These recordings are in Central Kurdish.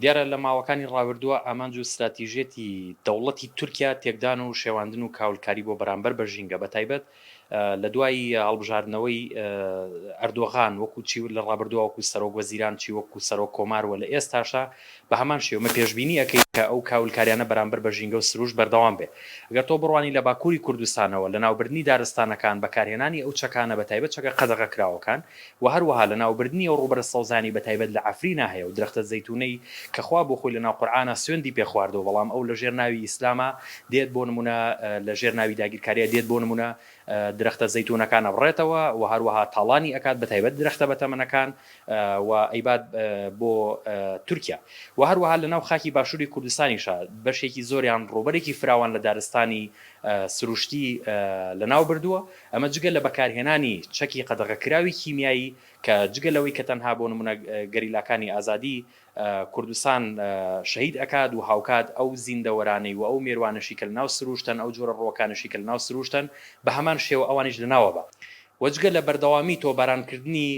دیارە لە ماوەکانی ڕابردووە ئامانج و ستراتیژیەتی دەوڵەتی تورکیا تێکدان و شێواندن و کاولکاری بۆ بەرامبەر بە ژینگە بە تایبەت لە دوای هەڵبژاردنەوەی ئەردۆغان وەکو چی لە ڕابردووە وەکو سەرۆک وەزیران چی وەکو سەرۆک کۆمار وە لە ئێستاشا بە هەمان شێوە پێشبینی ئەکەین کە ئەو کاولکاریانە بەرامبەر بە ژینگە و سروشت بەردەوام بێ گەر تۆ بڕوانی لە باکوری کوردستانەوە لەناوبردنی دارستانەکان بەکارهێنانی ئەو چەکانە بە تایبەت چەکە قەدەغەکراوەکان وە هەروەها لەناوبردنی ئەو ڕووبەرە سەوزانەی بەتایبەت لە عەفرینا هەیە و درەختە زەیتونەی کە خوا بۆ خۆی لەناو قورئانا سوێندی پێ خواردووە بەڵام ئەو لەژێر ناوی ئیسلاما دێت بۆ نموونە لەژێر ناوی داگیرکاریا دێت بۆ نموونە درەختە زەیتونەکان ئەبڕێتەوە وە هەروەها تاڵانی ئەکات بەتایبەت درەختە بەتەمەنەکان و ئەیبات بۆ تورکیا وە هەروەها لەناو خاکی باشووری کوردستانیشا بەشێکی زۆریان ڕووبەرێکی فراوان لە دارستانی سروشتی لەناو بردووە ئەمە جگە لە بەکارهێنانی چەکی قەدەغەکراوی کیمیایی کە جگە لەوەی کە تەنها بۆ نمونە گەریلاکانی ئازادی کوردستان شەهید ئەکات و هاوکات ئەو زیندەوەرانەی و ئەو مێروانەشی کە لەناو سروشتەن ئەو جۆرە ڕووەکانەشی کە لەناو سروشتەن بە هەمان شێوە ئەوانیش لەناو ئەبا و جگە لە بەردەوامی تۆبارانکردنی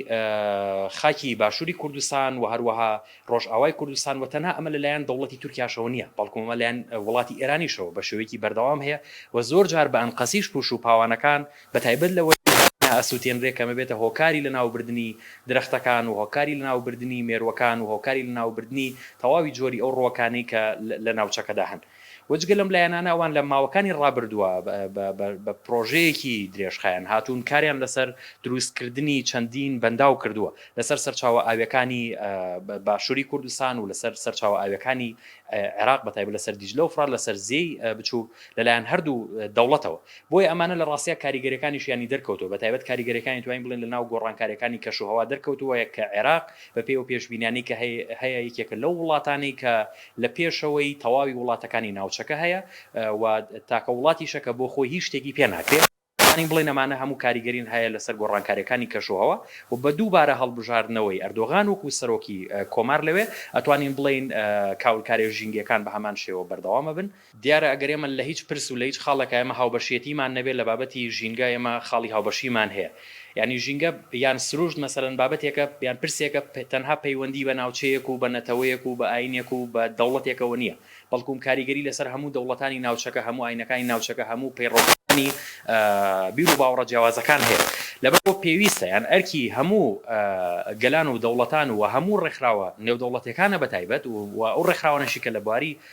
خاکی باشوری کوردستان و هەروەها ڕۆژئاوای کوردستان و تەنها ئەمە لەلایەن دەوڵەتی تورکیاشەوە نییە، بەڵکو ئەمە لەلایەن وڵاتی ئێرانیشەوە بە شێوەیەکی بەردەوام هەیە و زۆر جار بە ئەنقەستیش پوش و پاوانەکان بە تایبەت لە وەرزی هەرێمیدا ئەسوتێنرێ کە ئەمە بێتە هۆکاری لەناوبردنی درەختەکان و هۆکاری لەناوبردنی مێرووەکان و هۆکاری لەناوبردنی تەواوی جۆری ئەو ڕووەکانەی کە لە ناوچەکەدا هەن. و جگە لەم لایەنانە ئەوان لە ماوەکانی ڕابردووە بە پرۆژەیەکی درێژخایەن هاتوون کاریان لەسەر دروستکردنی چەندین بەنداو کردووە لەسەر سەرچاوە ئاویەکانی باشووری کوردستان و لەسەر سەرچاوە ئاویەکانی عێراق بەتایب لەسەر دیجلە و فرا لەسەر زێی بچووک لەلایەن هەردوو دەوڵەتەوە بۆیە ئەمانە لە ڕاستە کاریگەرەکانیشیانی دەرکەوتو بە تایبەت کاریگەرەکانی توانین بڵێن لە ناو گۆڕانکاریەکانی کەشوهوا دەرکەوتووە کە عێراق بە پێی و پێشبینیانی کە هەیە یەکێکە لەو وڵاتانی کە لە پێشەوەی تەواوی وڵاتەکانی ناوچەکە هەیە و تاکە وڵاتیشە کە بۆ خۆی هیچ شتێکی پێ ناکرێ. دەتوانین بڵێین ئەمانە هەموو کاریگەرین هەیە لەسەر گۆڕانکاریەکانی کەشوهەوا و بە دووبارە هەڵبژاردنەوەی ئەردۆغان وەکو سەرۆکی کۆمار لەوێ ئەتوانین بڵێین کاولکاریە ژینگەکان بە هەمان شێوە بەردەوام ئەبن. دیارە ئەگەر ئێمە لە هیچ پرس و لە هیچ خاڵێکا ئێمە هاوبەشیەتیمان نەبێت لە بابەتی ژینگە ئێمە خاڵی هاوبەشیمان هەیە یانی ژینگە یان سروشت مەسەلەن بابەتێکە یان پرسێکە تەنها پەیوەندی بە ناوچەیەک و بە نەتەوەیەک و بە ئاینێک و بە دەوڵەتێکەوە نیە بەڵکوم کاریگەری لەسەر هەموو دەوڵەتانی ناوچەکە هەموو ئاینەکانی ناوچەکە هەموو پەیڕەوکارانی بیر و باوەڕە جیاوازەکان هەیە لەبەر ئەوە پێویستە یان ئەرکی هەموو گەلان و دەوڵەتان و هەموو ڕێکخراوە نێودەوڵەتێکانە بەتایبەت و ئەو ڕێکخراوانەشی کە لە بواری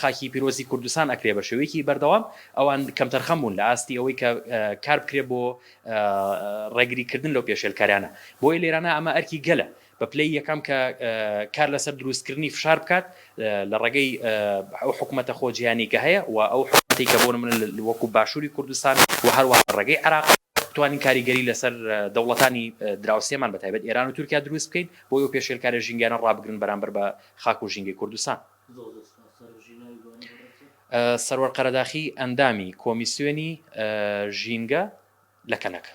خاکی پیرۆزی کوردستان ئەکرێ بە شێوەیەکی بەردەوام ئەوان کەمتەرخەم بوون لە ئاستی ئەوەی کە کار بکرێ بۆ ڕێگری کردن لەو پێشێلکاریانە بۆیە لێرانە ئەمە ئەرکی گەلە بە پلەی یەکەم کە کار لەسەر دروستکردنی فشار بکات لە ڕێگەی ئەو حکوومەتە خۆجییانەی کە هەیە و ئەو حکوومەتی کە بۆ نمونە وەکو باشووری کوردستان و هەروە ڕێگەی عێراق بتوانین کاریگەری لەسەر دەوڵەتانی دراوسێمان بە تایبەت ئێران و تورکیا دروست بکەین بۆی ئەو پێشێلکاریە ژینگەیانە ڕابگرن بەرامبەر بە خاک و ژینگەی کوردستان. سەروەر قەرەداخی ئەندامی کۆمیسیۆنی ژینگە لە کەنەکە.